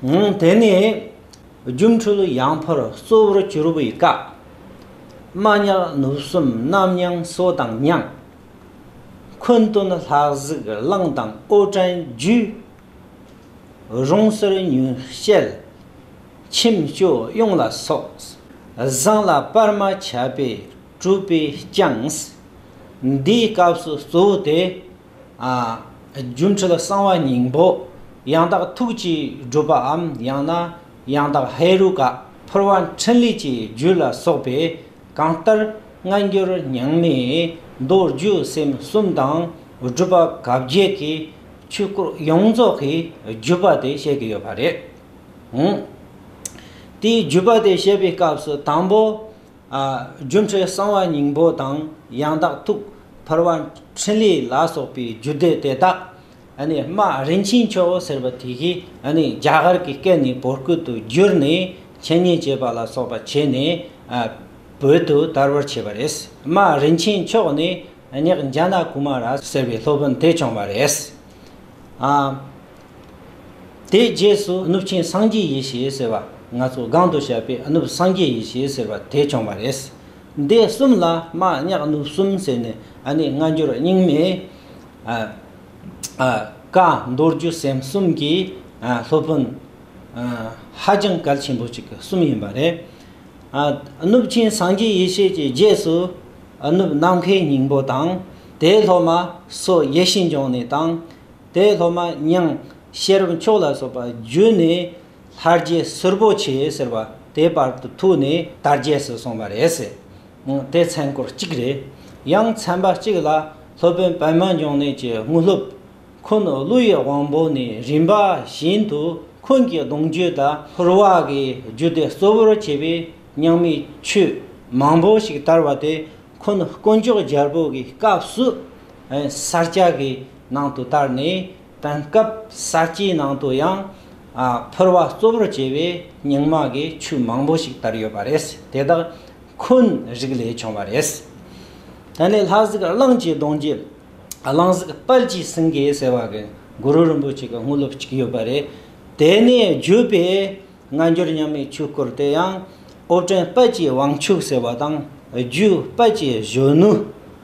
དེ་ནས་སྒྱུ་འཕྲུལ་ཡང་འཕར་གཙོ་བོར་གྱུར་པའི་བཀའ། རྨ་དབྱར་ནུབ་གསུམ་གནམ་དབྱངས་གསོལ་དང་མཉམ། འཁོན་སྟོན་ལྷ་གཟིགས་གླིང་དང་ཨོ་བྲན་རྒྱུད། རོང་གསེར་ཉུལ་ཤེལ་ཁྱིམ་སྤྱོད་གཡུང་ལ་སོགས། བཟང་ལ་སྤར་མ་ཆད་པས་གྲུབ་པས་བསྐྱངས། འདིའི་སྐབས་སུ་གཙོ་བོ་དེ། སྒྱུ་འཕྲུལ་གསང་བ་སྙིང་པོ། ཡང་དག་ཐུགས་ཀྱི་སྒྲུབ་པའམ་ཡང་ན་ཡང་དག་ཧེ་རུ་ཀ་ཕུར་བ་འཕྲིན་ལས་ཀྱི་རྒྱུད་ལ་སོགས་པས་གང་ལྟར་སྔ་འགྱུར་ཉང་མའི་མདོ་རྒྱུད་སེམས་གསུམ་དང་སྒྲུབ་པ་གབ་བརྒྱད་ཀྱི་ཆོས་སྐོར་ཡོངས་རྫོགས་ཀྱི་བརྒྱུད་པ་དེ་བཤད་ཀྱི་ཡོད་པ་རེད། དེའི་བརྒྱུད་པ་དེ་བཤད་པའི་སྐབས་སུ་དང་པོ། སྒྱུ་འཕྲུལ་གསང་བ་སྙིང་པོ་དང་ཡང་དག་ཐུགས། འཕར་བ་འཕྲིན་ལས་ལ་སོགས་པའི་རྒྱུད་སྡེ་དེ་དག། དམའ་རིན་ཆེན་ཆོས་འོད་ཟེར་བ་དེ་བཞིན་རྒྱ་གར་གྱི་སྐད་ནས་བོད་སྐད་དུ་བསྒྱུར་ནས་འཆད་ཉན་བྱེད་པ་ལ་སོགས་པ་བྱས་ནས་བོད་དུ་དར་བར་བྱས་པ་རེད། དམའ་རིན་ཆེན་མཆོག་ནི་ཉག་འཇའ་ནཱ་ཀུ་མ་ར་ཟེར་བའི་སློབ་དཔོན་དེས་བྱུང་བ་རེད། དེའི་རྗེས་སུ་གནུབས་ཆེན་སངས་རྒྱས་ཡེ་ཤེས་ཟེར་བ་ང་ཚོ་སྒང་དུ་བཤད་པའི་གནུབས་སངས་རྒྱས་ཡེ་ཤེས་ཟེར་བ་དེ་བྱུང་བ་རེད། འདི་གསུམ་ལ་རྨ་གཉག་གནུབས་གསུམ་ཟེར་ནས་ཨ་ནེ་སྔ་འགྱུར་རྙིང་མའི་བཀའ་མདོ་རྒྱུད་སེམས་གསུམ་གྱི་སློབ་དཔོན་ཧ་ཅང་གལ་ཆེན་པོ་ཅིག་གསུམ་ཡིན་པ་རེད། གནུབས་ཆེན་སངས་རྒྱས་ཡེ་ཤེས་ཀྱི་རྗེས་སུ་གནུབས་ནམ་མཁའི་སྙིང་པོ་དང་དེའི་སློབ་མ་སོགས་ཡེ་ཤེས་འབྱུང་གནས་དང། དེ་སློབ་མ་དབྱངས་ཤེས་རབ་མཆོག་ལ་སོགས་པ་བརྒྱུད་ནས་ལྷ་རྗེ་གསུར་པོ་ཆེ་ཟེར་བ་དེ་བར་དུ་ཐུག་ནས་དར་རྒྱས་སུ་སོང་བ་རེད། དེ་མཚན་སྐོར་གཅིག་རེད། ཡང་མཚན་པ་གཅིག་ལ་སློབ་དཔོན་པདྨ་འབྱུང་གནས་ཀྱི་དངོས་སློབ། ཁོང་ཀླུ་ཡི་དབང་པོ་ནས་རིམ་པ་བཞིན་དུ་ཁོང་གི་གདུང་རྒྱུད་དང། ཧོར་བ་གི་རྒྱུད་སྡེ་གཙོ་བོར་བྱས་པའི་ཉག་མའི་ཆོས་མང་པོ་ཞིག་དར་བ་དེ་ཁོང་དཀོན་མཆོག་རྒྱལ་པོ་གི་སྐབས་སུ། ས་སྐྱ་གི་ནང་དུ་བསྟར་ནས་དེང་སྐབས་ས་སྐྱའི་ནང་དུ་ཡང་ཕུར་བ་གཙོ་བོར་བྱས་པའི་རྙིང་མ་གི་ཆོས་མང་པོ་ཞིག་དར་ཡོད་པ་རེད་དེ་དག་འཁོན་རིགས་ལས་བྱུང་བ་རེད། ད་ནི་ལྷ་གཟིགས་གླང་ཆེན་གདོང་རྒྱལ་གླང་གཟིགས་དཔལ་གྱིས་སེང་གེ་ཟེར་བ་གི་གུ་རུ་རིན་པོ་ཆེ་གི་དངོས་སློབ་ཅིག་ཡོད་པ་རེད་དེ་ནས་བརྒྱུད་པའི་སྔ་འགྱུར་མཉམ་མེད་ཆོས་སྐོར་དེ་ཡང་ཨོ་བྲན་དཔལ་གྱི་དབང་ཕྱུག་ཟེར་བ་དང་རྒྱུད་དཔལ་གྱི་གཞོན་ནུ་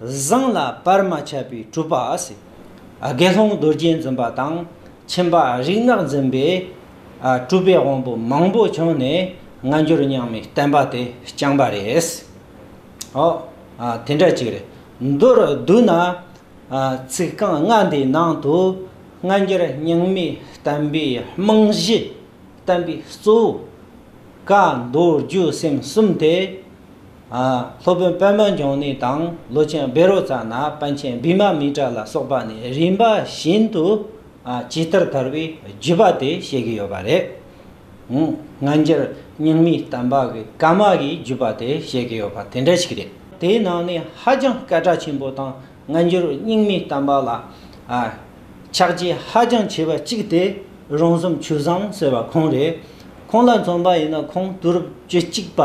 བཟང་ལ་བར་མ་ཆད་པའི་གྲུབ་པ། དགེ་སློང་རྡོ་རྗེ་འཛིན་པ་དང་ཁྱིམ་པ་རིག་སྔགས་འཛིན་པའི། གྲུབ་པའི་དབང་པོ་མང་པོ་བྱུང་ནས་སྔ་འགྱུར་རྙིང་མའི་བསྟན་པ་དེ་བསྐྱངས་པ་རེད། ཨོ། དེ་འདྲ་ཅིག་རེད། མདོར་བསྡུ་ན། ཚིག་རྐང་ལྔ་འདིའི་ནང་དུ། སྔ་འགྱུར་རྙིང་མའི་བསྟན་པའི་རྨང་གཞི། བསྟན་པའི་གཙོ་བོ། བཀའ་མདོ་རྒྱུད་སེམས་གསུམ་དེ། སློབ་དཔོན་པདྨ་འབྱུང་གནས་དང་ལོ་ཆེན་སྦེ་རོ་ཙཱ་ན་དཔལ་ཆེན་བི་མ་མི་ཏྲ་ལ་སོགས་པ་ནས་རིམ་པ་བཞིན་དུ་ཇི་ལྟར་དར་བའི་བརྒྱུད་པ་དེ་བཤད་ཀྱི་ཡོད་པ་རེད། སྔ་འགྱུར་རྙིང་མའི་གཏམ་བག་གི་ཀ་མ་གིའི་བརྒྱུད་པ་དེ་བཤད་ཀྱི་ཡོད་པ་དེ་འདྲ་ཞིག་རེད། དེའི་ནང་ནས་ཧ་ཅང་སྐད་གྲགས་ཆེན་པོ་དང་སྔ་འགྱུར་རྙིང་མའི་གཏམ་བག་ལ་ཕྱག་རྗེས་ཧ་ཅང་ཆེ་བ་གཅིག་དེ་རོང་ཟོམ་ཆུ་བཟང་ཟེར་བ་ཁོང་རེད། ཁོང་ལ་མཚོན་པ་ཡིན་ན་ཁོང་དུར་བྱོད་གཅིག་པ་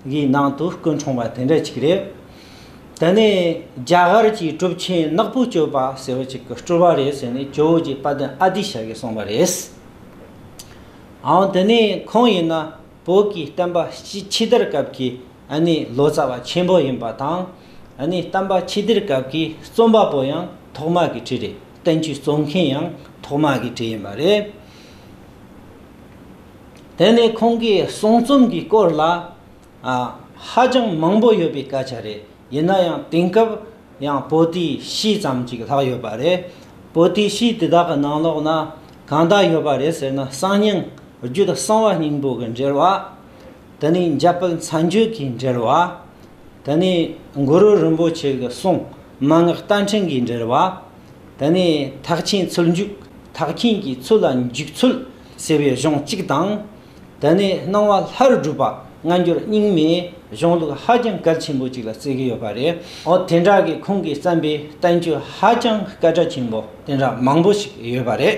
གི་ནང་དུ་སྐུ་འཁྲུངས་པ་དེ་འདྲ་ཅིག་རེད། དེ་ནས་རྒྱ་གར་གྱི་གྲུབ་ཆེན་ནག་པོའི་སྤྱོད་པ་ཟེར་བ་ཅིག་གི་སྤྲུལ་བ་རེད་ཟེར་ནས་ཇོ་བོ་རྗེ་དཔལ་ལྡན་ཨ་ཏི་ཤ་ཡིས་གསུངས་པ་རེད། ཨང་དེ་ནས་ཁོང་ཡིན་ན་བོད་ཀྱི་བསྟན་པ་ཕྱི་དར་སྐབས་ཀྱི་ལོ་ཙཱ་བ་ཆེན་པོ་ཡིན་པ་དང། བསྟན་པ་ཕྱི་དར་སྐབས་ཀྱི་རྩོམ་པ་པོ་ཡང་ཐོག་མ་གི་གྲས་རེད་བསྟན་བཅོས་རྩོམ་མཁན་ཡང་ཐོག་མ་གི་གྲས་ཡིན་པ་རེད། དེ་ནི་ཁོང་གི་གསུང་རྩོམ་གྱི་སྐོར་ལ་ཧ་ཅང་མང་པོ་ཡོད་པའི་སྐད་ཆ་རེད། ཡིན་ན་ཡང་དེང་སྐབས་ཡང་པོ་ཏི་ཤིས་ཙམ་གཅིག་ལྷག་ཡོད་པ་རེད། པོ་ཏི་ཤིས་དེ་དག་གི་ནང་ལོགས་ན་གང་དག་ཡོད་པ་རེད་ཟེར་ན་གསང་སྙིང་རྒྱུད་གསང་བ་སྙིང་པོ་གི་འགྲེལ་བ། དེ་ནི་འཇའ་སྤུལ་མཚན་བརྗོད་ཀྱི་འགྲེལ་བ། དེ་ནི་གུ་རུ་རིན་པོ་ཆེ་གི་གསུང་མན་ངག་རྟ་མཁྲིན་གྱི་འགྲེལ་བ། དེ་ནི་ཐག་ཆེན་ཚུལ་འཇུག་ཐག་མཁྱེན་གྱི་ཚུལ་ལ་འཇུག་ཚུལ་ཟེར་བའི་གཞུང་གཅིག་དང། དེ་ནས་སྣང་བ་ལྷ་རུ་སྒྲུབ་པ་སྔ་འགྱུར་རྙིང་མའི་གཞུང་ལུགས་ཧ་ཅང་གལ་ཆེན་པོ་གཅིག་ལ་བརྩི་གི་ཡོད་པ་རེད། འོ་དེ་འདྲ་གི་ཁོང་གིས་བརྩམས་པའི་བསྟན་བཅོས་ཧ་ཅང་སྐད་གྲགས་ཆེན་པོ་དེ་འདྲ་མང་པོ་ཞིག་ཡོད་པ་རེད།